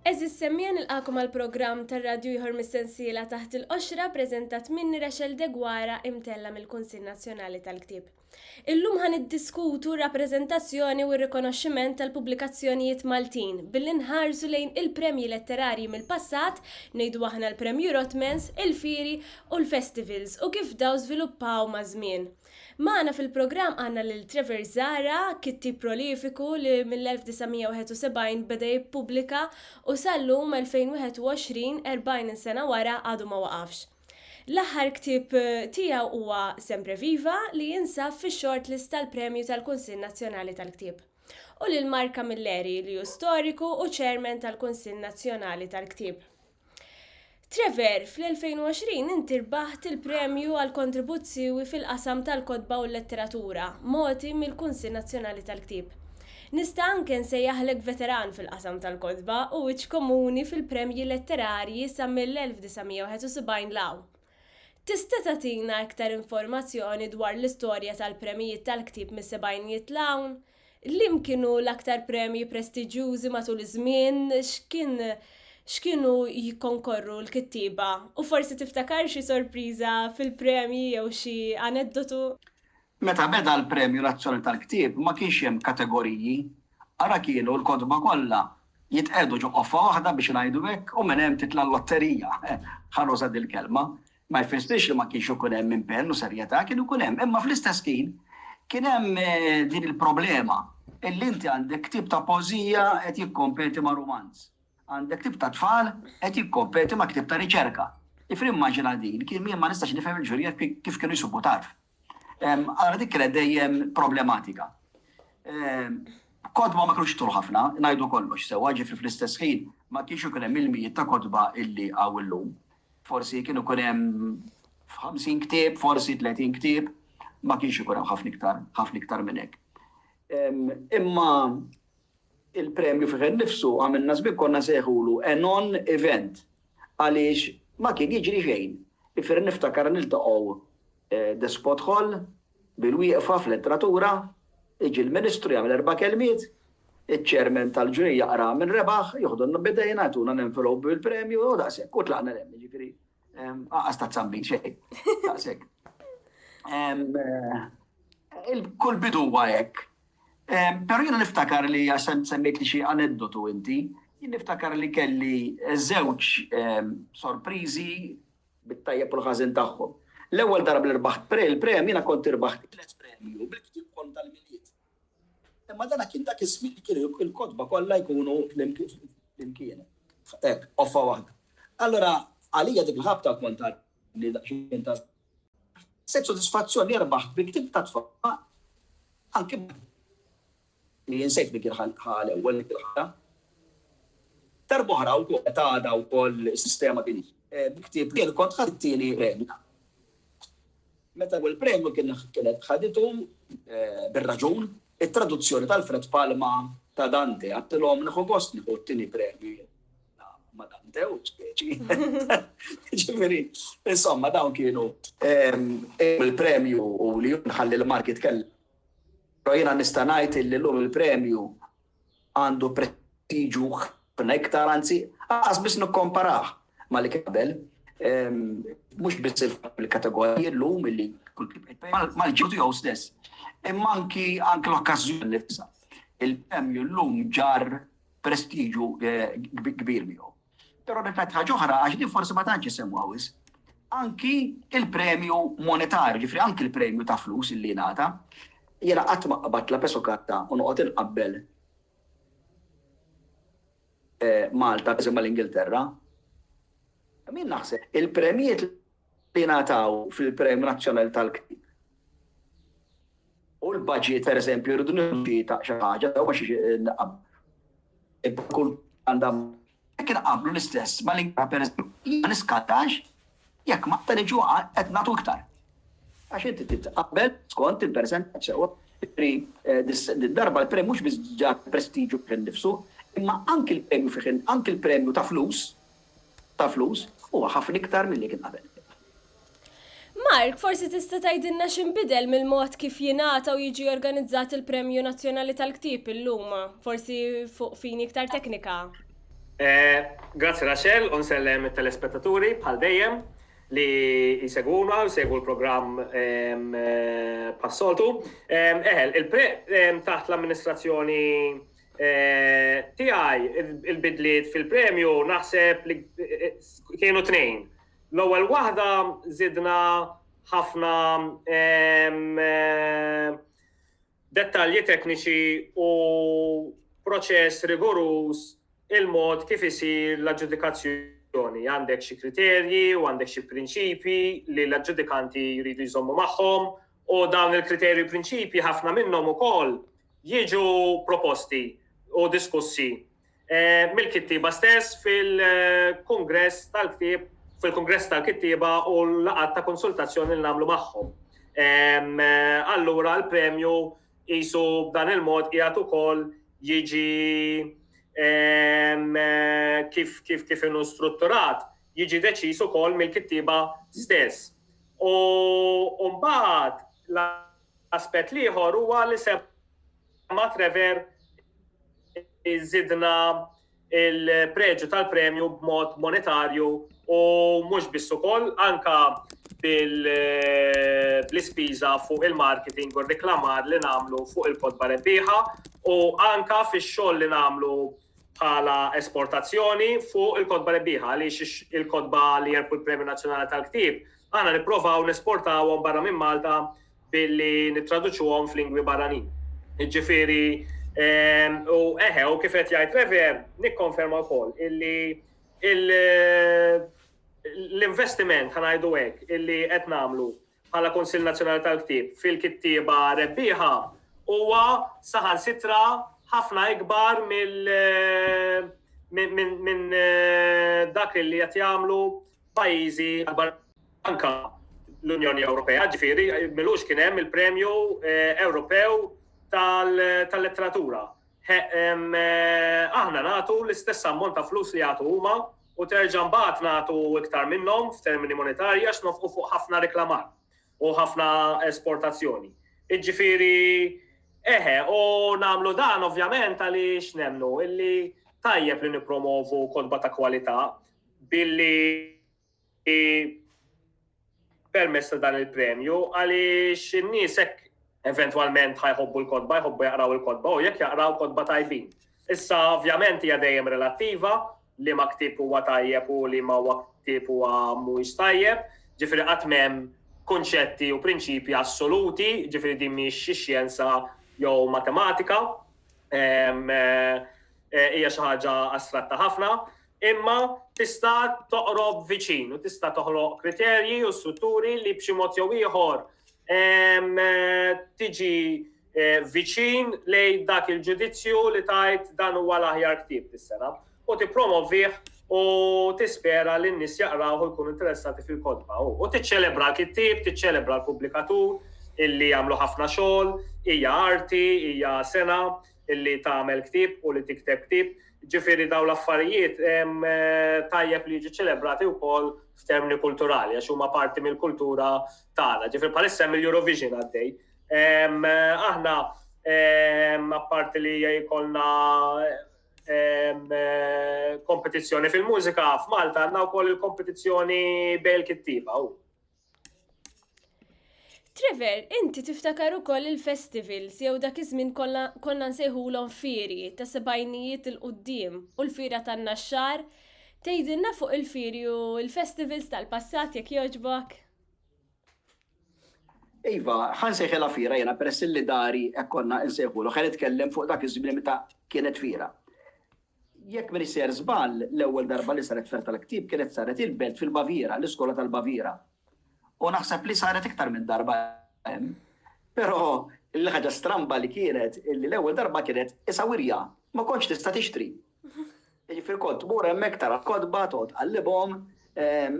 Eżis semmien il-qakum għal-program tar-radju jħor mis-sensiela taħt il-qoxra prezentat minni Rachel Degwara imtella mill-Kunsil Nazzjonali tal-Ktib. Illum ħa niddiskutu r-rappreżentazzjoni u r-rikonoxximent tal-pubblikazzjonijiet Maltin billi nħarsu lejn il-premji letterarji mill-passat, ngħidu aħna l-Premju Rotmans, il-fieri u l-festivals u kif dawn żviluppaw maż-żmien. Magħna fil-programm għandna lil Trevor Zahra, kittieb prolifiku li mill-1971 beda jippubblika u sal-lum, 2021, 40 sena wara, għadu ma waqafx. L-aħħar ktieb tiegħu huwa Sempre Viva li jinsab fix-shortlist tal-Premju tal-Kunsill Nazzjonali tal-Ktieb. U lil Mark Camilleri li hu storiku u chairman tal-Kunsill Nazzjonali tal-Ktieb. Trevor, fl-2020 inti rbaħt il-Premju għall-Kontribut Siewi fil-qasam tal-Kotba u l-Letteratura, mogħti mill-Kunsill Nazzjonali tal-Ktieb. Nista' anke nsejjaħlek veteran fil-qasam tal-kotba u wiċċ komuni fil-premji letterarji sa mill-1971 'l hawn. Tista' tagħtina iktar informazzjoni dwar l-istorja tal-premjijiet tal-ktieb mis-sebgħinijiet 'l hawn? Liem kienu l-aktar premji prestiġjużi matul iż-żmien? X'kien x'kienu jikkonkorru l-kittieba? U forsi tiftakar xi sorpriża fil-premji jew xi aneddotu? Meta beda l-Premju Nazzjonali tal-Ktieb ma kienx hemm kategoriji, ara kienu l-kotba kollha jitqiegħdu ġo qoffa waħda biex ngħidu hekk u minn hemm titla' l-lotterija, ħa nuża dil-kelma. Ma jfissirx li ma kienx ikun hemm impenn u serjetà, kien ikun hemm, imma fl-istess ħin kien hemm din il-problema illi inti għandek ktieb ta' poeżija qed jikkompeti ma' rumanz, għandek ktieb ta' tfal qed jikkompeti ma' ktieb ta' riċerka. Ġifieri immaġina din, jien ma nistax nifhem il-ġurija kif kienu jsubu tarf. Ara dik kienet dejjem problematika. Kodba ma kienux tul ħafna, ngħidu kollox sewwa, ġifri fl-istess ħin ma kienx ikun hemm il-mijiet ta' kodba illi hawn illum. Forsi kien ikun hemm 50 ktieb, forsi 30 ktieb, ma kienx ikun hemm ħafna iktar, ħafna iktar minn hekk. Imma Il-premju fih innifsu għamilna żmien konna nsejħulu a non event għaliex ma kien jiġri xejn. Ifieri niftakar niltaqgħu Despot Hall bil-wieqfa fl-entratura, jiġi l-Ministru jagħmel erba' kelmiet, iċ-Chairman tal-Ġuri jaqra min rebaħ, joħdunna b'idejna, jtuna l-envelope bil-premju u daqshekk u tlaqna 'l hemm. Jiġifieri anqas ta' zambit xejn. Daqshekk. Kull bidu huwa hekk. Però jiena niftakar li, għax semmejtli xi aneddotu inti, jien niftakar li kelli żewġ sorpriżi bit-tajjeb u l-ħażin tagħhom. L-ewwel darba li rbaħt il-premju jiena kont irbaħt it-tliet premji u bil-ktieb ukoll tal-Milied. Imma dan kien dak iż-żmien li kienu l-kotba kollha jkunu flimkien, hekk, qoffa waħda. Allura għalija dik il-ħabta kont għadni daqsxejn ta' żmien. Ħassejt sodisfazzjon li rbaħt bi ktieb ta' tfal anki li insejt min kien ħa l-ewwel dik il-ħatra. Darb'oħra wkoll meta għadha wkoll is-sistema kien bi ktieb li jien kont ħadt it-tieni premju. Meta l-ewwel premju kienet ħaditu bir-raġun It-traduzzjoni tal-Fred Palma ta' Dante, għedtilhom nieħu gost nieħu t-tieni premju jien ma' Dante u speċi. Ġifieri, insomma dawn kienu il-premju u li nħalli l-marki tkellem. Però jiena nista' ngħid li llum il-premju għandu prestiġu ħafna iktar, anzi, lanqas biss nikkomparah ma' li kien qabel. Mhux biss il-fatt li l-kategoriji llum li mal-ġew tiegħu stess, imma anki l-okkażjoni nnifisha. Il-premju llum ġarr prestiġu kbir miegħu. Però nirrepeti ħaġa oħra għax din forsi ma tantx isemmuha wisq, anki l-premju monetarju, ġifieri anki l-premju ta' flus li jingħata, jiena qatt ma qbadt la peso carta u noqgħod inqabbel Malta pereżempju mal-Ingilterra, min naħseb il-premjiet li jingħataw fil-Premju Nazzjonali tal-Ktieb U l-budget, per eżempju, rridu nirġi ta' xi ħaġa, jew għax naqab. Kull għandha jekk inqablu l-istess ma l-inkra per eżempju, ma niskatax jekk ma ta' niġu qed nagħtu iktar. Għax inti titqabbel skont il-persentaġġ sewwa. Eh, darba l-premju mhux biss ġar prestiġu kien nifsu, imma anki l-premju fih anki l-premju ta' flus ta' flus huwa ħafna iktar milli kien qabel. Mark, forsi tista' tgħidilna x'inbidel mill-mod kif jingħata u jiġi organizzat il-Premju Nazzjonali tal-Ktieb illum, forsi fuq fini iktar teknika? Grazzi Rachel u nsellem it-telespettaturi bħal dejjem li jsegwuna u jsegwu l-programm bħas-soltu. Eħel, il-Premju taħt l-amministrazzjoni tiegħi il-bidliet fil-premju naħseb li kienu tnejn. L-ewwel waħda żidna ħafna dettalji tekniċi u proċess rigoruż il-mod kif isir l-aġġudikazzjoni. Għandek xi kriterji u għandek xi prinċipji li l-aġġudikanti jridu jżommu magħhom U dawn il-kriterji u prinċipji ħafna minnhom ukoll jiġu proposti u diskussi mill-kittieba stess fil-kungress tal-ktieb fil-kungress tal-kittieba u l-laqgħat ta' konsultazzjoni li nagħmlu magħhom. Allura l-premju qisu b'dan il-mod qiegħed ukoll jiġi kif kif kif inhu strutturat jiġi deċiż ukoll mill-kittieba stess. U mbagħad l-aspett l-ieħor huwa li semma Trevor żidna l-preġju tal-premju b'mod monetarju u mhux biss ukoll anke bl-ispiża fuq il-marketing u r-reklamar li nagħmlu fuq il-kotba rebbieħa u anke fix-xogħol li nagħmlu bħala esportazzjoni fuq il-kotba rebbieħa għaliex il-kotba li jerbħu l-Premju Nazzjonali tal-Ktieb aħna nipprovaw nesportawhom barra minn Malta billi nittraduċuhom f'lingwi barranin. Jiġifieri ehm, u eħe u kif qed jgħid Rever nikkonferma wkoll illi l-investiment ħanajdu hekk illi qed nagħmlu bħala Kunsill Nazzjonali tal-Ktieb fil-kittieba rebbieħa huwa saħansitra ħafna ikbar minn dak li qed jagħmlu pajjiżi akbar anka l-Unjoni Ewropea, ġifieri milux kien hemm il-Premju eh, Ewropew tal-Letteratura. Eh, aħna nagħtu l-istess ammont ta' flus li jagħtu huma u terġa' mbagħad nagħtu iktar minnhom f'termini monetarji għax nofqu fuq ħafna riklamar u ħafna esportazzjoni. Jiġifieri eħe, u nagħmlu dan ovvjament għaliex nemmnu illi tajjeb li nippromovu kotba ta' kwalità billi permezz ta' dan il-premju għaliex in-nies hekk eventwalment ħajħobbu l-kotba, jħobbu jaqraw il-kotba u jekk jaqraw kotba tajbin. Issa ovvjament hija dejjem relattiva li ma ktib huwa tajjeb u li ma huwa ktib huwa mhuwiex tajjeb, ġifieri qatt m'hemm kunċetti u prinċipji assoluti, ġifieri din mhix xi xjenza jew matematika, eh, hija xi ħaġa astratta ħafna. Imma tista' toqrob viċin u tista' toħloq kriterji u strutturi li b'xi mod jew ieħor tiġi eh, viċin lejn dak il-ġudizzju li tajt dan huwa l-aħjar ktieb dis-sena u tippromovih u tispera li n-nies jaqraw u jkunu interessati fil-kodba. U tiċċelebra l-kittib, tiċċelebra l-pubblikatur illi jagħmlu ħafna xogħol, hija arti, hija sena, li tagħmel ktieb u li tikteb ktieb. Ġifieri dawn l-affarijiet tajjeb li jiġu ċelebrati wkoll f'termini kulturali għax huma parti mill-kultura tagħna. Ġifieri bħalissa hemm il-Eurovision għaddej. Aħna apparti li jkollna kompetizzjoni fil-mużika f'Malta għandna wkoll il-kompetizzjoni bejn kittiba Trevor, inti tiftakar ukoll il-festivals jew dak iż-żmien konna nsejħulhom fieri ta' sebgħinijiet il qudiem u l-fira tan-naxxar. Tgħidilna fuq il-fieri u l-festivals tal-passat jekk jogħġbok? Iva, ħa nsejħilha fiera jiena peress li dari hekk konna nsejħulha. Ħa nitkellem fuq dak iż-żmien meta kienet fiera. Jekk m'iniex sejjer żball, l-ewwel darba li saret ferr tal-ktieb kienet saret il-belt fil-Baviera, l-iskola tal-Baviera. U naħseb li saret iktar minn darba hemm. Però l-ħaġa stramba li kienet li l-ewwel darba kienet isa wirja, ma kontx tista' tixtri. Jiġifieri kont tmur hemmhekk tara l-kotba, toqgħod tqallibhom,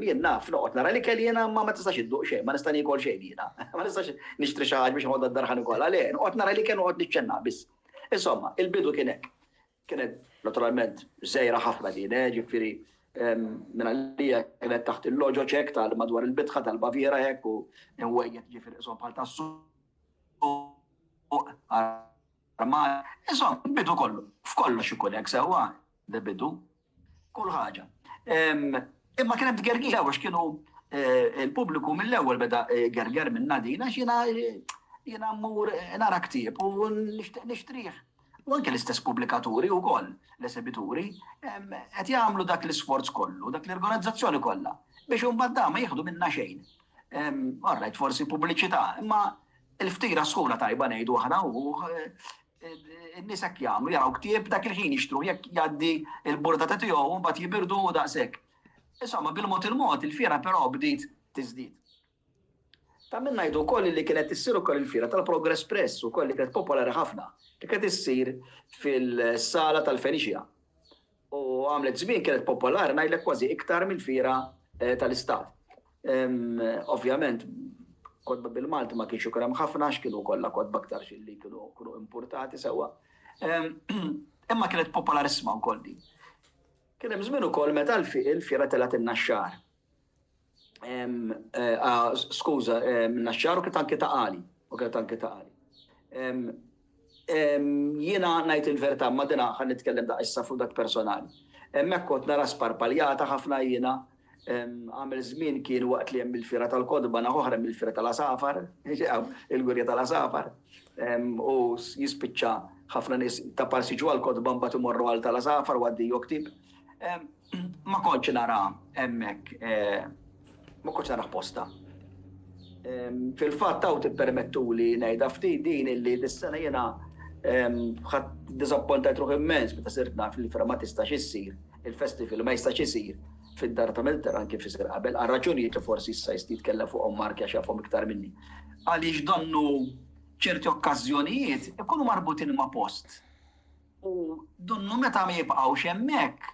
jien naf, noqgħod nara l-ikel jiena imma ma tistax idduq xejn, ma nista' niekol xejn jiena. Ma nistax nixtri xi ħaġa biex inħoddha d-dar ħa nikolha, le, noqgħod nara l-ikel u noqgħod niċċennaha biss. Insomma, il-bidu kien hekk. Kienet naturalment żgħira ħafna din, eh, ġifieri minn għalija kienet taħt il-loġoċ hekk tal madwar il-bitħa tal-Baviera hekk u nwejjed ġifieri isom bħal tas-suq Insomma, bidu kollu, f'kollox ikun hekk sewwa, bidu. Kull ħaġa. Imma kien hemm tgergija għax kienu eh, il-pubbliku mill-ewwel beda eh, gerger minn nadin għax jiena eh, jiena mmur nara ktieb u nixtrih. U anke l-istess pubblikaturi u koll, l-esebituri, qed jagħmlu dak l-isforz kollu, dak l-organizzazzjoni kollha, biex un badda ma jieħdu minna xejn. Orrajt, forsi pubbliċità, imma il-ftira sħuna tajba nejdu aħna u eh, In-nies hekk jagħmlu, jaraw ktieb dak il-ħin jixtruh jekk jgħaddi l-burdata tiegħu u mbagħad jibirdu u daqshekk. Insomma, bil-mod il-mod il-fiera però bdiet tiżdied. Ta' min ngħidu wkoll li kienet issir ukoll il-fiera tal-Progress Press ukoll li kienet popolari ħafna, li kienet issir fil-sala tal-Feniċja. u għamlet żmien kienet popolari ngħidlek kważi iktar mill-fiera tal-Istat. Ovvjament kotba bil-Malti ma kienx ikun hemm ħafna għax kienu kollha kotba aktarx illi kienu kienu impurtati sewwa. Imma kienet popolarissima wkoll din. Kien hemm żmien ukoll meta l-fiera telgħet in-Naxxar. Skuża, Naxxar u kienet anke ta' Għali, u kienet anke ta' Għali. Jiena ngħid il-verità, imma din ħa nitkellem daqqa issa fuq dak personali. Hemmhekk kont nara sparpaljata ħafna jiena, għamel żmien kien waqt li hemm il-Fiera tal-Kotba, naħa oħra hemm il-Fiera tal-Għasafar, il-Wirja tal-Għasafar, u jispiċċa ħafna nies ta' Parsiġu għall-Kotba mbagħad imorru għal tal-Għasafar u għaddej joktib. Ma kontx nara hemmhekk, ma kontx narah posta. Fil-fatt hawn tippermettuli ngħidha ftit din illi dis-sena jiena ħadt diżappuntajt ruħi immens meta sirt naf li l-Firma ma tistax issir, il-festival ma jistax isir fid-Dar ta' Milterran kif isir qabel, għal raġunijiet li forsi issa jista' jitkellem fuqhom Mark għax jafhom iktar minni. Għaliex donnu ċerti okkażjonijiet ikunu marbutin ma' post. U dunnu meta ma jibqgħux hemmhekk,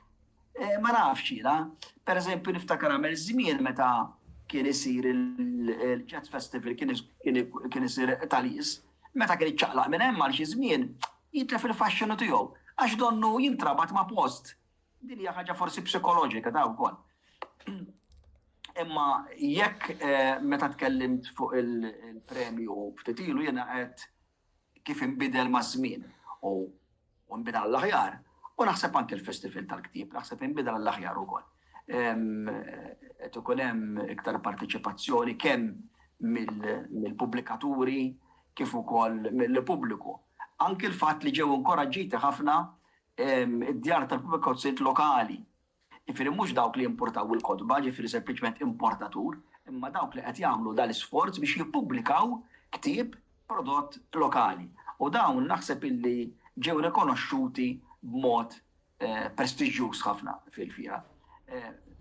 ma nafx jiena. Per eżempju, niftakar għamel żmien meta kien isir il-Jazz Festival kien isir Talis, meta kien iċċaqlaq minn hemm għal xi żmien, jitlef il-faxxinu tiegħu għax donnu jintrabat ma' post. Din hija ħaġa forsi psikoloġika ta' wkoll. Imma jekk meta tkellimt fuq il-premju ftit ilu jiena qed kif inbidel maż-żmien u nbidel għall-aħjar, u naħseb anke l-Festival tal-Ktieb, naħseb inbidel għall-aħjar ukoll. Qed ikun hemm iktar parteċipazzjoni kemm mill-pubblikaturi kif ukoll mill-pubbliku. Anke l-fatt li ġew inkoraġġiti ħafna d-djar tal-pubblikazzjonijiet lokali Jiġifieri mhux dawk li jimpurtaw il-kotba, jiġifieri sempliċement importatur, imma dawk li qed jagħmlu dal-isforz biex jippubblikaw ktieb prodott lokali. U dawn naħseb illi ġew rikonoxxuti b'mod prestiġjuż ħafna fil-fiera,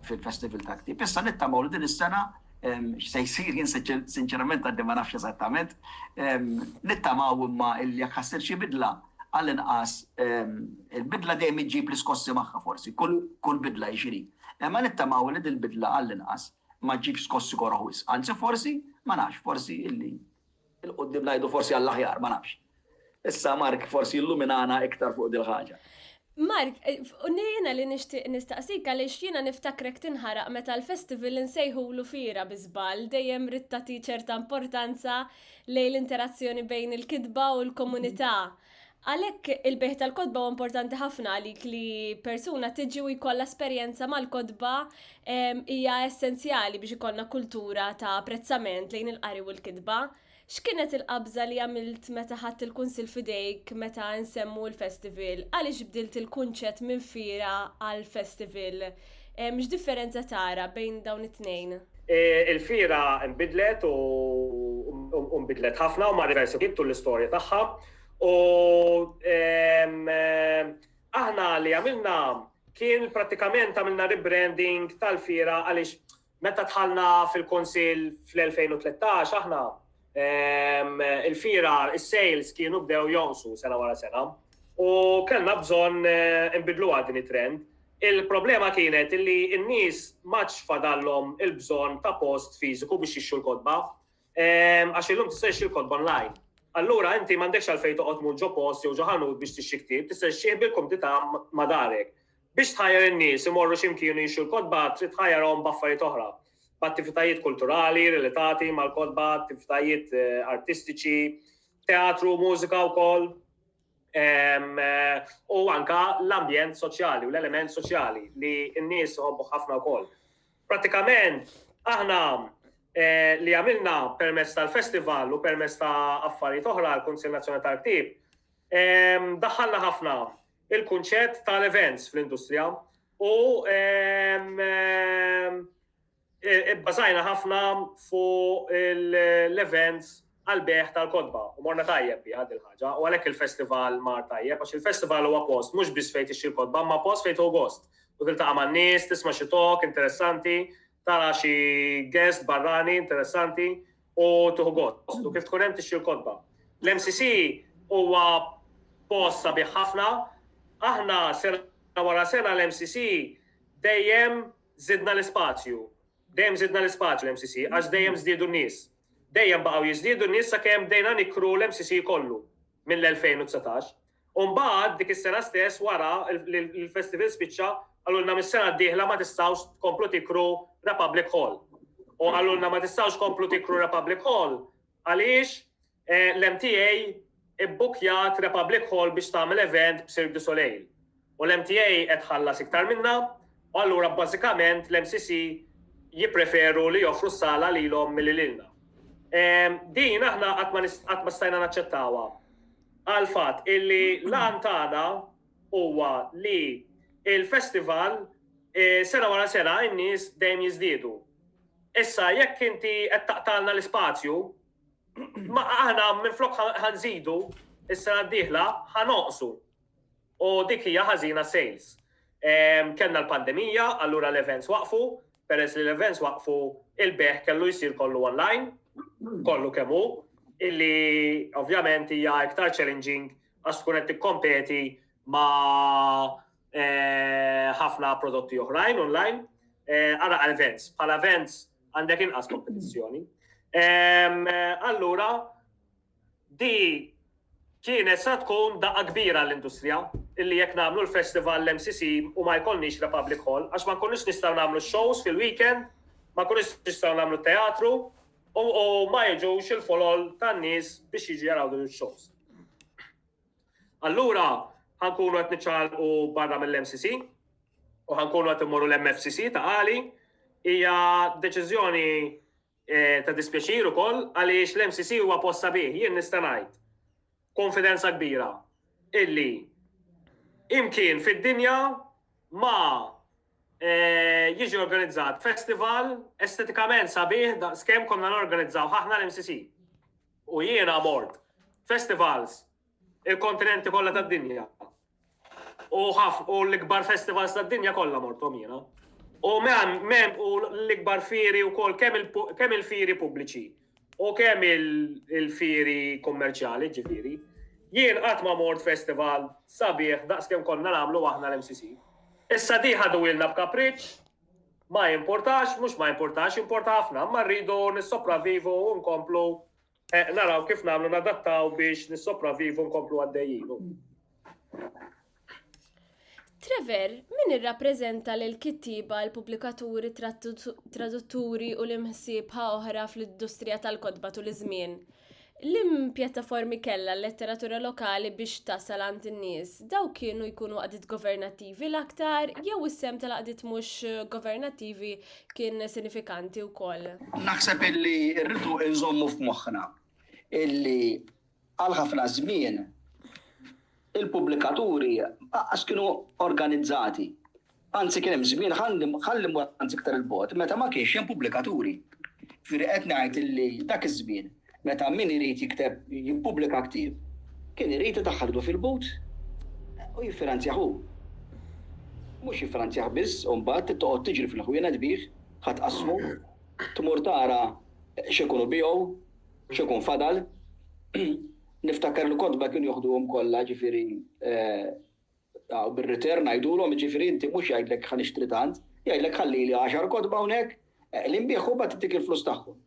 fil-Festival tal-Ktieb. Issa nittamaw li din is-sena x'se jsir jien sinċerament għadni ma nafx eżattament, nittamaw imma illi jekk ħa ssir xi bidla, għall-inqas, il-bidla dejjem iġġib l-iskossi magħha forsi, kull bidla hi x'inhi. Imma nittamaw li dil-bidla għall-inqas ma ġġibx skossi koroh wisq. Anzi forsi, ma nafx, forsi illi 'l quddiem ngħidu forsi għall-aħjar, ma nafx. Issa Mark forsi jilluminana iktar fuq dil-ħaġa. Mark, jiena li nixtieq nistaqsik għaliex jiena niftakrek tinħaraq meta l-festival insejħulu fiera bi żball, dejjem ridt tagħti ċerta importanza lejn l-interazzjoni bejn il-kitba u l-komunità. Għalhekk il-bejgħ tal-kotba huwa importanti ħafna għalik li persuna tiġi u jkollha esperjenza mal-kotba hija essenzjali biex ikollna kultura ta' apprezzament lejn il-qari u l-kitba. X'kienet il-qabża li għamilt meta ħadt il-kunsill f'idejk meta nsemmu l-festival? Għaliex bdilt il-kunċett minn fiera għal festival? X'differenza tara bejn dawn it-tnejn? Il-fiera nbidlet u u nbidlet ħafna u mar diversi wħid tul l-istorja tagħha u aħna li għamilna kien prattikament għamilna rebranding tal-fiera għaliex Meta dħalna fil-Kunsill fl-2013 aħna, il-fira, is-sales kienu bdew jonqsu sena wara sena u kellna bżonn inbidluha din it-trend. Il-problema kienet illi n-nies m'għadx fadallhom il-bżonn ta' post fiżiku biex jixtru l-kotba. Ehm, għax illum tista' jxil kont online. Allura inti m'għandekx għalfejn toqgħod mur ġo post jew ġo ħanut biex tixxi ktieb, tista' xxieħ bil-kumdità ma' darek. Biex tħajjar in-nies imorru x'imkien jixxu l-kotba trid tħajjarhom b'affarijiet oħra, b'attivitajiet kulturali relatati mal-kotba, attivitajiet eh, artistiċi, teatru, mużika wkoll. u anka l-ambjent soċjali u l-element soċjali li n-nies għobbu ħafna wkoll. Pratikament, aħna eh, li għamilna permess tal-festival u permess ta' affarijiet oħra l kunsil Nazzjonali tal-Ktib, daħħalna ħafna il-kunċett tal-events fl-industrija u Ibbażajna ħafna fuq l-events għall-bejgħ tal-kotba u morna tajjeb biha din il-ħaġa u għalhekk il-festival mar tajjeb għax il-festival huwa post mhux biss fejn tixtri l-kotba imma post fejn tieħu gost u tiltaqa' man-nies, tisma' xi talk interessanti, tara xi guest barrani interessanti u tieħu gost. U kif tkun hemm tixtri l-kotba. L-MCC huwa post sabiħ ħafna, aħna sena wara sena l-MCC dejjem Żidna l-ispazju. Dejjem żidna l-ispazju l-MCC għax dejjem żdiedu n-nies. Dejjem baqgħu jiżdiedu n-nies sakemm bdejna nikkru l-MCC kollu mill-2019. U mbagħad dik is-sena stess wara li l-festival spiċċa qalulna mis-sena d-dieħla ma tistgħux tkomplu tikkru Republic Hall. U qalulna ma tistgħux tkomplu tikkru Republic Hall għaliex L-MTA ibbukkjat Republic Hall biex tagħmel event b'Cirque du Soleil u l-MTA qed tħallas iktar minnha u allura bażikament l-MCC jippreferu li joffru s-sala lilhom milli lilna. Din aħna qatt ma stajna naċċettawha għall-fatt illi l-għan tagħna huwa li l-festival sena wara sena n-nies dejjem jiżdiedu. Issa jekk inti qed taqtagħlna l-ispazju, Ma aħna minflok ħanżidu is-sena d-dieħla ħanoqsu. U dik hija ħażina sales. Ehm, kellna l-pandemija, allura l-events waqfu, peress li l-events waqfu il-beħ kellu jsir kollu online, kollu kemm hu, illi ovvjament hija iktar challenging għax tkun qed tikkompeti ma' eh, ħafna prodotti oħrajn online. Eh, ara events, bħala events għandek inqas kompetizzjoni. Allura, di kienet sa tkun daqqa kbira l-industrija illi jekk nagħmlu l-festival l-MCC u ma jkollniex la public hall għax ma nkunux nistgħu nagħmlu shows fil-weekend, ma nkunux nistgħu nagħmlu teatru u ma jiġux il-folol tan-nies biex jiġu jaraw din il-shows. Allura ħa nkunu qed niċċaqalqu barra mill-MCC u ħa nkunu qed immorru l-MFCC ta' għali hija deċiżjoni eh, ta' dispjaċir ukoll għaliex l-MCC huwa post sabiħ jien nista' ngħid konfidenza kbira illi imkien fid-dinja ma eh, jiġi organizzat festival estetikament sabiħ da' skem konna norganizzaw ħahna l-MCC. U jiena mort festivals il-kontinenti kollha tad-dinja. U ħaf u l-ikbar festivals tad-dinja kollha morthom jiena. U mem mem u l-ikbar firi wkoll kemm il-firi pubbliċi u kemm il-firi kummerċjali ġifieri. Jien qatt ma mort festival sabiħ daqs kemm konna nagħmlu aħna l-MCC. Issa di ħaduhilna b'kapriċċ Ma jimpurtax, mhux ma jimpurtax, jimporta ħafna, imma rridu nissopravivu u nkomplu eh, naraw kif nagħmlu nadattaw biex nissopravivu nkomplu għaddejjin. Trevor, min irrappreżenta l kittiba l-pubblikaturi, tradutturi u l-imħsiebħa oħra fl-industrija tal-kodba tul iż-żmien? Liem pjattaformi kellha l-letteratura lokali biex tasal għand in-nies? Dawk kienu jkunu għaqdiet governattivi l-aktar jew is-sehem tal-għaqdiet mhux governattivi kien sinifikanti wkoll? Naħseb illi rridu nżommu f'moħħna illi għal ħafna żmien, Il-pubblikaturi lanqas kienu organizzati. Anzi kien hemm żmien, ħalli mmur anzi iktar 'il bogħod, meta ma kienx hemm pubblikaturi. Jiġifieri qed ngħid illi dak iż-żmien meta min irid jikteb, jippubblika ktieb, kien irid idaħħal idu fil-but u jiffinanzjah hu. Mhux jiffinanzjah biss u mbagħad toqgħod tiġri fil-ħwienet bih, ħa tqassmu, tmur tara x'ikun hu biegħu, x'ikun fadal. Niftakar li kotba kienu joħduhom kollha, jiġifieri u bir-return ngħidulhom, jiġifieri inti mhux jgħidlek ħa nixtri tant, jgħidlek ħallili għaxar kotba hawnhekk, li nbigħ u mbagħad intik il-flus tagħhom.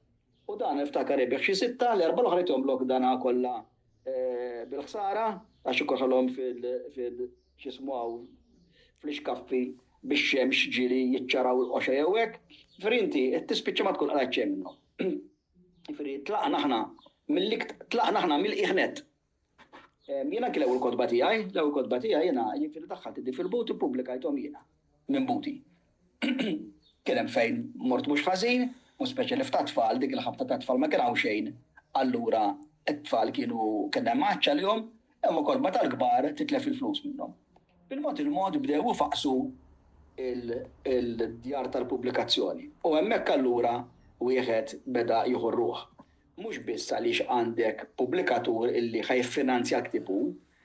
U dan niftakar ibigħ xi sitta, l-erbgħa l-oħra jtihomlok dana kollha bil-ħsara għax ikun ħallhom fil, x'ismu hawn, fl-ixkaffi bix-xemx ġieli jiċċaraw il-qoxa jew hekk, jiġifieri inti tispiċċa ma tkun qrajt xejn minnhom. Jiġifieri tlaqna aħna mill-ikt, tlaqna aħna mill-qiegħ nett. Jien anki l-ewwel kotba tiegħi, l-ewwel kotba tiegħi jiena jiġifieri daħħalt iddi fil-but ippubblikajthom jiena minn buti. Kien hemm fejn mort mhux ħażin, u speċi li f'tat-tfal, dik il-ħabta tat-tfal ma kien hawn xejn, allura t-tfal kienu kellna imgħaċċ għalihom, Hemm ukoll meta l-kbar titlef il-flus minnhom. Bil-mod il-mod bdew ifaqqsu l-djar tal-pubblikazzjoni u hemmhekk allura wieħed beda jieħu r-ruħ. Mhux biss għaliex għandek pubblikatur illi ħa jiffinanzja l-ktieb hu,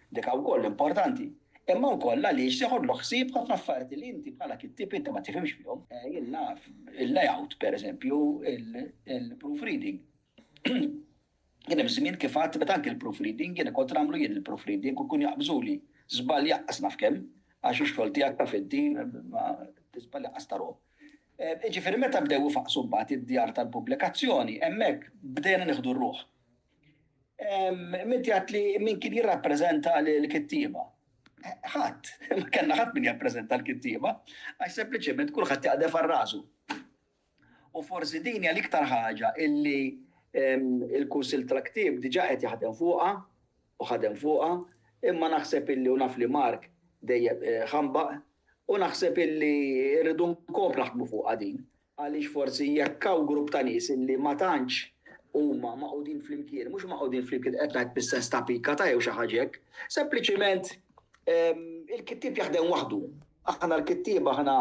dik wkoll importanti, imma wkoll għaliex tiħodlu ħsieb ħafna affarijiet illi inti bħala kittieb inti ma tifhimx fihom. Jien naf il-layout, pereżempju il-proofreading. Kien hemm żmien kif għad meta anke l-proofreading jiena kont nagħmlu jien il-proofreading u jkun jaqbżuli żball jaqqas naf kemm għax ix-xogħol tiegħek taf inti ma tiżball jaqqas ta' ruħ. Jiġifieri meta bdew ifaqqsu mbagħad id-djar tal-pubblikazzjoni, hemmhekk bdejna nieħdu r-ruħ. Inti għedt li min kien jirrappreżenta lill-kittieba. Ħadd, ma kellna ħadd min jappreżenta l-kittieba għax sempliċement kulħadd jaqdef għal rasu. U forsi din hija l-iktar ħaġa illi l-Kunsill tal-Ktieb diġà qed jaħdem fuqha u ħadem fuqha, imma naħseb illi u naf li Mark dejjem ħambaq, u naħseb illi rridu nkomplu naħdmu fuqha din. Għaliex forsi jekk hawn grupp ta' nies illi ma tantx huma magħqudin flimkien, mhux magħqudin flimkien qed ngħid bis-sens ta' pikata jew xi ħaġa hekk, sempliċiment il-kittieb jaħdem waħdu. Aħna l-kittieba aħna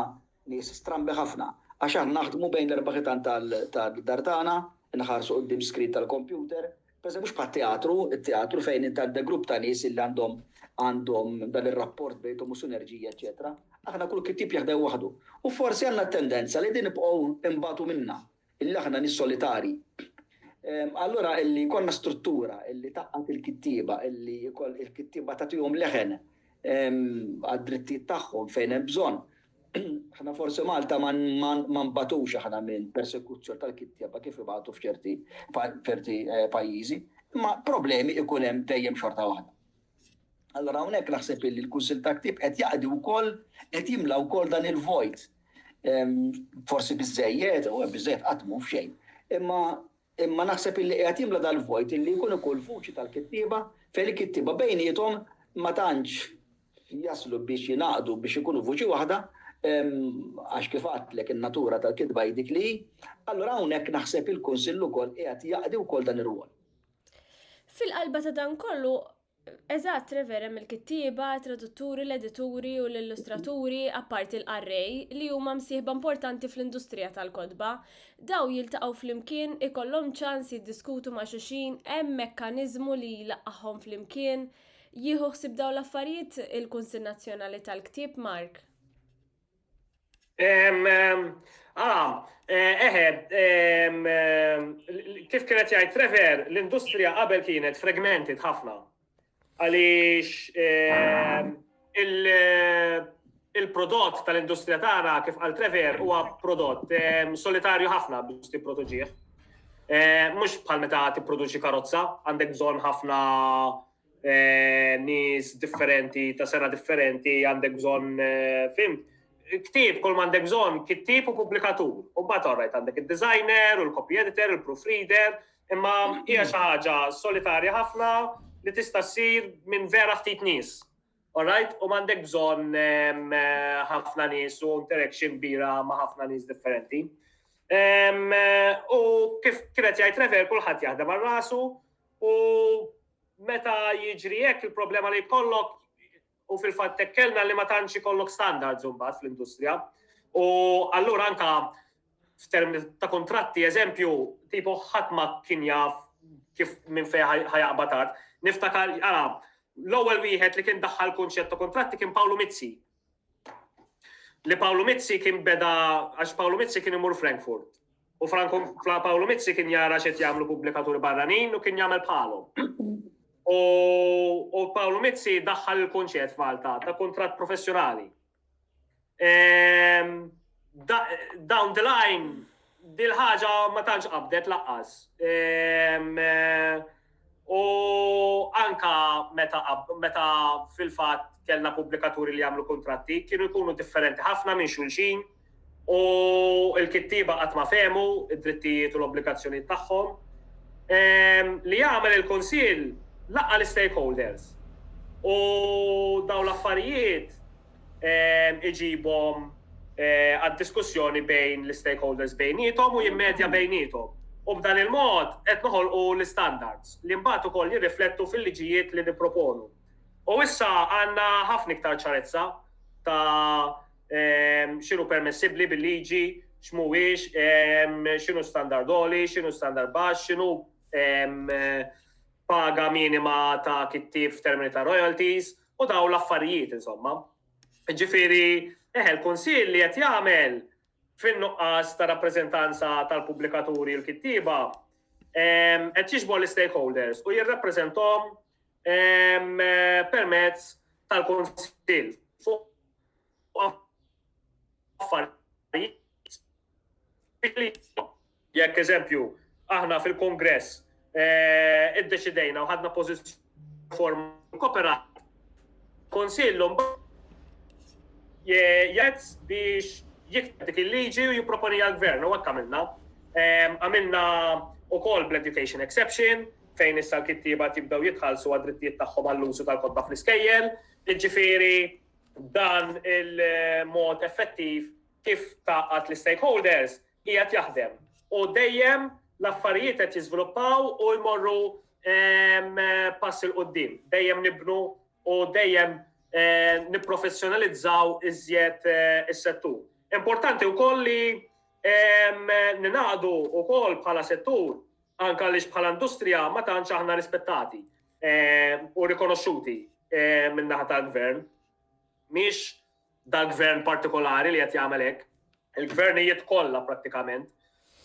Nies strambi ħafna, għax aħna naħdmu bejn l-erba' ħitan tad-dar tagħna, inħarsu quddiem screen tal-kompjuter, pereżempju mhux bħat-teatru, it-teatru fejn int għandek grupp ta' nies illi għandhom għandhom dan ir-rapport bejnthom u sinerġija eċċetera. Aħna kull kittieb jaħdem waħdu. U forsi għandna t-tendenza li din nibqgħu nbatu minnha. Illi aħna nies solitari. Allura illi jkollna struttura illi tgħaqqad il-kittieba, illi il-kittieba tagħtihom leħen għad-drittijiet tagħhom fejn hemm bżonn. Aħna forsi Malta ma nbagħtux aħna minn persekuzzjoni tal-kittieba kif ibagħtu f'ċerti pajjiżi, imma problemi ikun hemm dejjem xorta waħda. Allura hawnhekk naħseb illi l-Kunsill ta' Ktieb qed jaqdi wkoll qed jimla wkoll dan il-vojt. Forsi biżejjed, u biżejjed qatt mhu f'xejn. Imma imma naħseb illi qiegħed jimla dal-vojt illi jkun ikun vuċi tal-kittieba fejn il-kittieba bejniethom ma tantx jaslu biex jingħaqdu biex ikunu vuċi waħda għax kif għadtlek in-natura tal-kitba hi dik li hi. Allura hawnhekk naħseb il-Kunsill ukoll qiegħed jaqdi wkoll dan ir-rwol. Fil-qalba ta' dan kollu, Eżatt, Trevor, hemm il-kittieba, tradutturi, l-edituri u l-illustraturi, apparti l-qarrej, li huma msieħba importanti fl-industrija tal-kotba. Daw jiltaqgħu flimkien, ikollhom ċans jiddiskutu ma' xulxin, hemm mekkaniżmu li jlaqqagħhom flimkien. Jieħu ħsieb dawn l-affarijiet il-Kunsill Nazzjonali tal-Ktieb, Mark? Ah, eħe, kif kienet jgħid Trevor, l-industrija qabel kienet fragmented ħafna. Għaliex il-prodott tal-industrija tagħna kif għal Trevor huwa prodott solitarju ħafna biex tipproduċih. Mhux bħal meta tipproduċi karozza, għandek bżonn ħafna nies differenti, ta' sena differenti, għandek bżonn fim. Ktib, kull ma għandek bżonn, kittib u pubblikatur. U mbagħad orajt għandek id-designer, u l-copy editor, il-proofreader, imma hija xi ħaġa solitarja ħafna li tista' ssir minn vera ftit nies. Alright, u m'għandek bżonn ħafna nies u interaction bira ma' ħafna nies differenti. U kif kienet jgħid Rever, kulħadd jaħdem għal rasu, U meta jiġri hekk il-problema li jkollok u fil-fatt tekkelna li ma tantx ikollok standards imbagħad fl-industrija. U allura anka f'term ta' kontratti, eżempju, tipo ħadd ma kien jaf kif minn fejn ħajaqbad Niftakar, ara, l-ewwel wieħed li kien daħħal kunċett ta' kontratti kien Pawlu Mizzi. li Pawlu Mizzi kien beda għax Pawlu Mizzi kien imur Frankfurt. U Franco Pawlu Mizzi kien jara xed jagħmlu pubblikaturi barranin u kien jagħmel bħalhom. U Pawlu Mizzi daħħal il-kunċett f'Malta ta' kuntratt professjonali. Ehm, down the line, dil-ħaġa ma tantx qabdet laqqas. Ehm, eh, U anke meta fil-fatt kellna pubblikaturi li jagħmlu kuntratti, kienu jkunu differenti ħafna minn xulxin u l-kittieba qatt ma fehmu id-drittijiet u l-obbligazzjonijiet tagħhom. Ehm, li jagħmel il-Kunsill laqqa' l-istakeholders. U dawn l-affarijiet iġibhom għad-diskussjoni bejn l-istakeholders bejniethom u jimmedja bejniethom, u b'dan il-mod qed noħolqu l-istandards, li mbagħad ukoll jirriflettu fil-liġijiet li nipproponu. U issa għandna ħafna iktar ċarezza ta' x'inhu permessibbli bil-liġi, x'mhuwiex, x'inhu standard għoli, x'inhu standard baxx, x'inhu paga minima ta' kittieb f'termini ta' royalties, u daw l-affarijiet insomma. Ġifieri, eħe l-Kunsill li qed jagħmel fin-nuqqas ta' rappreżentanza tal-pubblikaturi u l-kittieba ehm, qed jixbor l-stakeholders u jirrappreżentom ehm, permezz tal-Kunsill fuq affarijiet Jekk eżempju, aħna fil-Kongress eh, iddeċidejna u ħadna pożizzjoni form kooperat konsillu jgħid biex jikteb dik il-liġi u jipproponi għal-gvern u għakka minna. Eh, għamilna u kol bl-education exception fejn issa l-kittiba tibdaw jitħallsu għad-drittijiet tagħhom għall-użu tal-kodba fl-iskejjel, jiġifieri dan il-mod effettiv kif tgħaqqad l-istakeholders qiegħed jaħdem u dejjem l-affarijiet qed jiżviluppaw u jmorru pass il qudiem dejjem nibnu u dejjem eh, nipprofessjonalizzaw iżjed eh, is-settur. Importanti wkoll li ninaqdu wkoll bħala settur anka li bħala industrija ma tantx aħna rispettati u rikonoxxuti min-naħa tal-gvern. Miex dal-gvern partikolari li qed jagħmel hekk. Il-gvernijiet kollha prattikament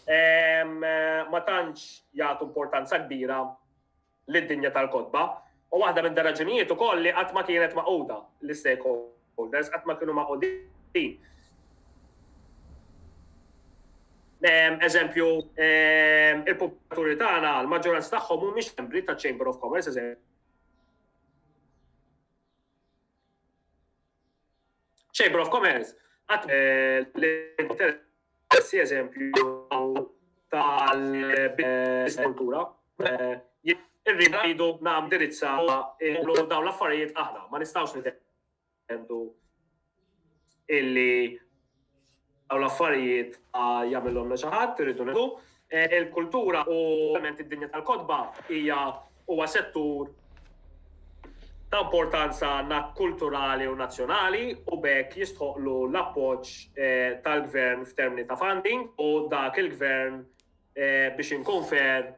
ma tantx jagħtu importanza kbira lid-dinja tal-kotba. U waħda minn raġunijiet ukoll li qatt ma kienet maquda l-stakeholders, qatt ma kienu maqudin. Eżempju, il-publikaturi tagħna, l-maġġoranza tagħhom mhumiex membri ta' Chamber of Commerce, eżempju. Chamber of Commerce, għat l-interessi eżempju tal-kultura, irridu rridu nam dirizza daw l-affarijiet aħna, ma nistawx nitendu illi Dawn l-affarijiet ma jagħmilhomna xi ħadd, irridu ngħidu. E, il-kultura u ovvjament id-dinja tal-kotba hija huwa settur ta' importanza kulturali u nazzjonali u bekk jistħoqlu l-appoġġ e, tal-gvern f'termini ta' funding u dak il-gvern e, biex inkunfer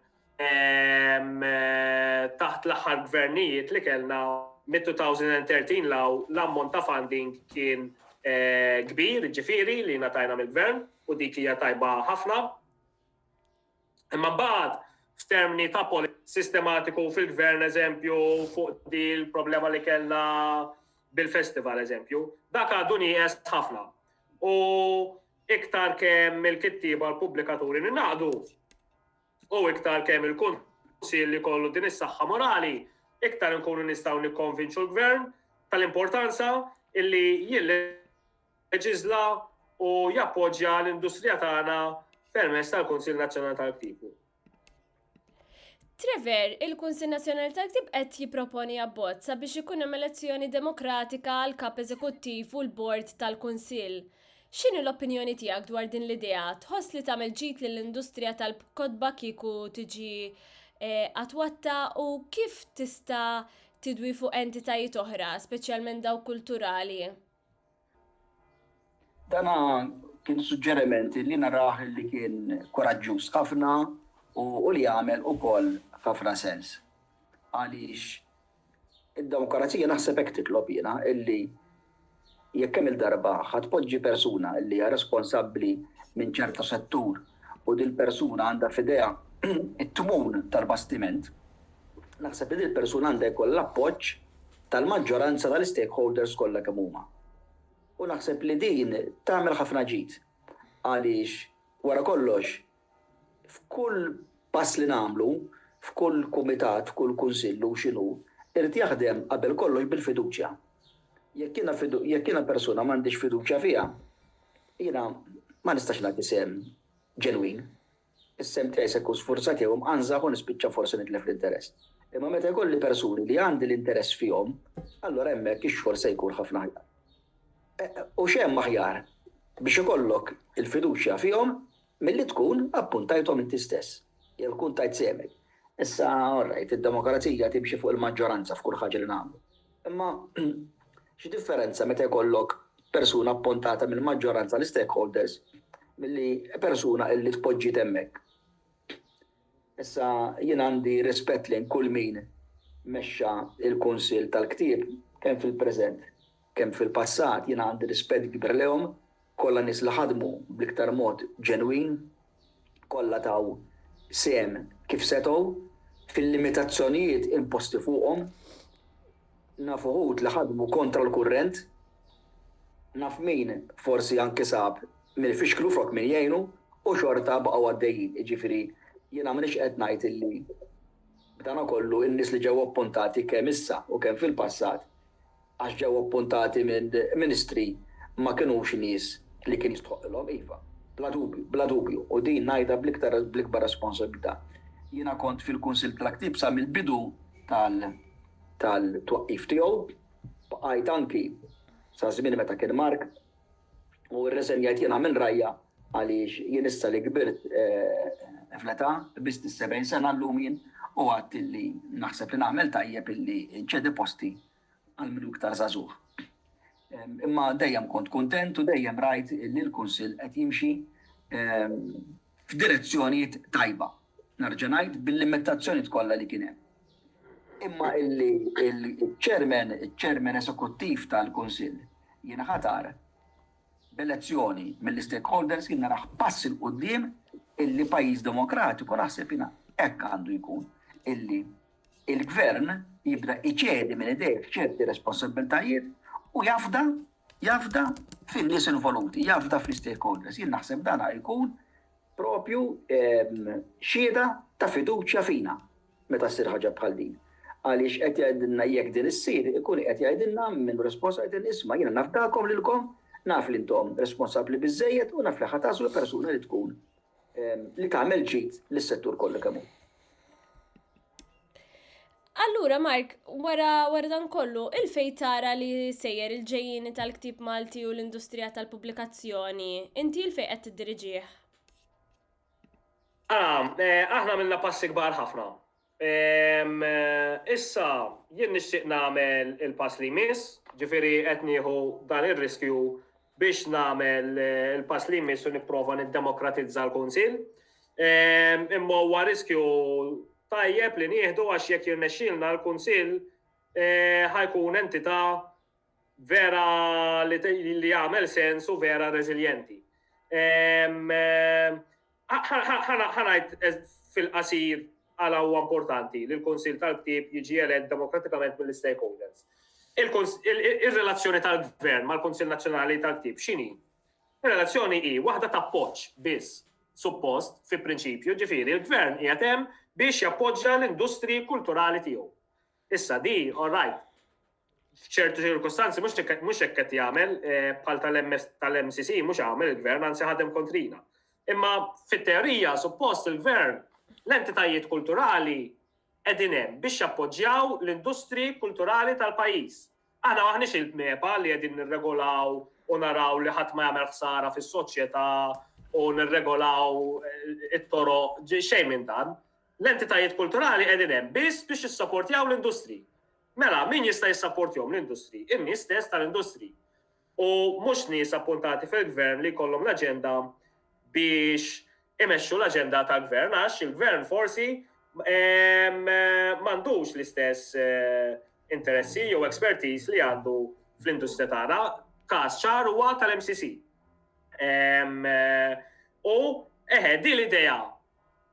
taħt l-aħħar gvernijiet li kellna mit-2013 law l-ammont ta' funding kien eh, kbir, ġifiri li natajna mill-gvern u dik hija tajba ħafna. Imma mbagħad f'termini ta' sistematiku fil-gvern eżempju fuq di l-problema li kellna bil-festival eżempju, dak għadu nieqes ħafna. U iktar kemm il-kittiba l-pubblikaturi ninaqdu, U iktar kemm il-Kunsill ikollu din is-saħħa morali, iktar inkunu nistgħu nikkonvinċu l-Gvern tal-importanza illi jilleġiżla u jappoġġja l-industrija tagħna permezz tal-Kunsill Nazzjonali tal-Ktibu. Trevor, il-Kunsil Nazzjonali tal-Ktib qed jipproponi abbozz sabiex ikun hemm elezzjoni demokratika għal kap eżekuttiv u l-bord tal-Kunsill. X'inhi l-opinjoni tiegħek dwar din l-idea? Tħoss li tagħmel ġid lill-industrija tal-kotba kieku tiġi attwatta u kif tista' tidwi fuq entitajiet oħra, speċjalment dawk kulturali? Dan kien suġġeriment li narah li kien kuraġġuż ħafna u li jagħmel ukoll ħafna sens għaliex Id-demokrazija naħseb hekk titlob jiena illi jekk kemm-il darba ħa tpoġġi persuna illi hija responsabbli minn ċertu settur u dil-persuna għandha f'idejha t-tmun tal-bastiment, naħseb li dil-persuna għandha jkollha l-appoġġ tal-maġġoranza tal-istakeholders kollha kemm huma. U naħseb li din tagħmel ħafna ġid għaliex wara kollox F'kull pass li nagħmlu, f'kull kumitat, f'kull kunsill hu x'inhu, irid jaħdem qabel kollox bil-fiduċja. Jekk jiena jekk jiena persuna m'għandix fiduċja fiha, jiena ma nistax nagħti sehem ġenwin. Is-sehem tiegħi se jkun sfurzat jew imqanżaħ u nispiċċa forsi nitlef l-interess. Imma meta jkolli persuni li għandi l-interess fihom, allura hemmhekk ix-xogħol se jkun ħafna aħjar. U x'hemm aħjar biex ikollok il-fiduċja fihom Milli tkun appuntajthom inti stess, jew tkun tajt sehmek. Issa, orrajt, id-demokrazija timxi fuq il-maġġoranza f'kull ħaġa li nagħmlu. Imma x'differenza meta jkollok persuna appuntata mill-maġġoranza, l-istakeholders, milli persuna illi tpoġġiet hemmhekk? Issa jien għandi rispett lejn kull min mexxa l-Kunsill tal-Ktieb kemm fil-preżent kemm fil-passat. Jiena għandi rispett kbir lejhom kollha nies li ħadmu bl-iktar mod ġenwin, kollha taw sehem kif setgħu, fil-limitazzjonijiet imposti fuqhom. Naf uħud li ħadmu kontra l-kurrent. Naf min forsi anki sab min ifixklu flok min jgħinu u xorta baqgħu għaddejjin. Jiġifieri jiena m'iniex qed ngħid illi b'dana kollu n-nies li ġew appuntati kemm issa u kemm fil-passat għax ġew appuntati minn ministri ma kinux nies li kien jistħoqqilhom. Iva, bla dubju, bla dubju u din ngħidha bl-iktar bl-ikbar responsabilità. Jiena kont fil-Kunsill tal-Ktieb sa mill-bidu tal tal-twaqqif tiegħu, bqajt anki sa żmien meta kien Mark, u rriżenjajt jiena minn rajja għaliex jien issa li kbirt fl-età, biss is-70 sena llum jien, u għedt illi naħseb li nagħmel tajjeb illi nċedi posti għal min hu iktar żagħżugħ. Imma dejjem kont kuntent u dejjem rajt illi l-Kunsill qed jimxi f'direzzjoni tajba, nerġa' ngħid, bil-limitazzjonijiet kollha li kien hemm. Imma illi l-Chairman, iċ-Chairman Esekuttiv tal-Kunsill, jinħatar b'elezzjoni mill-istakeholders jien narah pass 'il quddiem illi pajjiż demokratiku naħseb jiena hekk għandu jkun, illi l-Gvern jibda jċedi minn idejh ċerti responsabbiltajiet u jafda jafda fin-nies involuti, jafda fl-istakeholders. Jien naħseb dan jkun propju ehm, xieda ta' fiduċja fina meta ssir ħaġa bħal din. Għaliex qed jgħidilna jekk din issir, ikun qed jgħidilna minn responsab jgħidilna isma' jiena nafdakom lilkom, naf li intom responsabbli biżejjed u naf li ħataslu persuna li tkun li tagħmel ġid lis-settur kollu kemm hu. Allura, Mark, wara, wara dan kollu, il-fej tara li sejjer il-ġejjini tal-ktib Malti u l-industrija tal-pubblikazzjoni, inti il-fej qed tiddiriġih? Ah, eh, aħna minna passi kbar ħafna. Issa jien nixtieq nagħmel il-pass li jmiss, ġifieri qed nieħu dan ir-riskju biex nagħmel il-pass li jmiss u nipprova niddemokratizza l-Kunsill. Imma huwa riskju tajjeb li nieħdu għax jekk jirnexxilna l-Kunsill ħajkun entità vera li li jagħmel sens u vera reżiljenti. Ehm, ħanajt fil-qasir għala huwa importanti li l-Kunsil tal-Ktib jiġi elett demokratikament mill-stakeholders. Il-relazzjoni tal-Gvern mal-Kunsil Nazzjonali tal-Ktib x'inhi? Il-relazzjoni hi waħda ta' poċ biss suppost fi prinċipju ġifieri l-Gvern qiegħed hemm biex jappoġġja l-industri kulturali tiegħu. Issa di, all right, f'ċertu ċirkustanzi mhux mhux hekk qed jagħmel eh, bħal tal-MCC mhux għamel il-gvern anzi ħadem kontrina. Imma fit-teorija suppost il-gvern l-entitajiet kulturali qegħdin hemm biex jappoġġjaw l-industri kulturali tal-pajjiż. Aħna maħniex il-bneba li qegħdin nirregolaw u naraw li ħadd ma jagħmel ħsara fis-soċjetà u nirregolaw eh, it-toro xejn minn dan. L-entitajiet kulturali qegħdin hemm biss biex jissaportjaw l-industri. Mela, min jista' jissapportjhom? L-industri, in-nies stess tal-industri. U mhux nies appuntati fil-Gvern li jkollhom l-aġenda biex imexxu l-aġenda tal-Gvern għax il-Gvern forsi m'għandux l-istess eh, interessi jew expertise li għandu fl-industrija tagħna. Każ ċar huwa tal-MCC. Eh, u eħe, di l-idea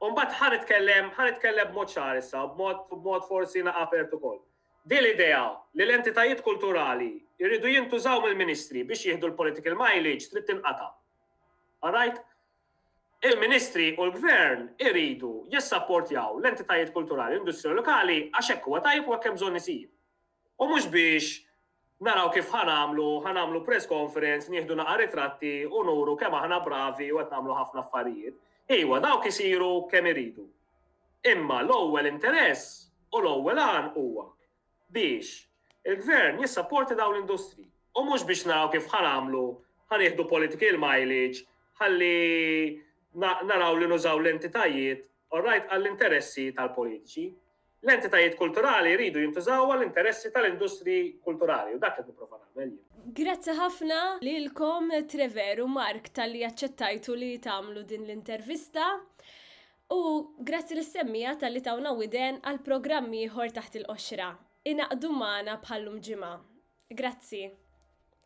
U mbagħad ħa nitkellem, ħa nitkellem b'mod ċar issa, b'mod, b'mod forsi na apert ukoll. Din l-idea li l-entitajiet kulturali jridu jintużaw mill-ministri biex jieħdu l-political mileage trid tinqata'. All right? Il-ministri u l-gvern iridu jissapportjaw l-entitajiet kulturali u l-industrija lokali għax hekk huwa tajjeb u hekk hemm bżonn isir. U mhux biex naraw kif ħa nagħmlu, ħa nagħmlu press conference, nieħdu naqa' ritratti u nuru kemm aħna bravi u qed nagħmlu ħafna affarijiet. Iwa, dawk isiru kemm iridu. Imma l-ewwel interess u l-ewwel għan huwa biex il-Gvern jissapporti dawn l-industri u mhux biex naraw kif ħa nagħmlu, ħa nieħdu political mileage ħalli naraw li nużaw l-entitajiet, all right, għall-interessi tal-politiċi. L-entitajiet kulturali jridu jintużaw għall-interessi tal-industriji kulturali u dak qed nipprova nagħmel jien. Grazzi ħafna lilkom Trevor u Mark talli aċċettajtu li tagħmlu din l-intervista. U grazzi l-semmija tal-li tawna widen għal programm ieħor taħt il-qoxra. Inaqdu magħna bħallum ġimgħa. Grazzi.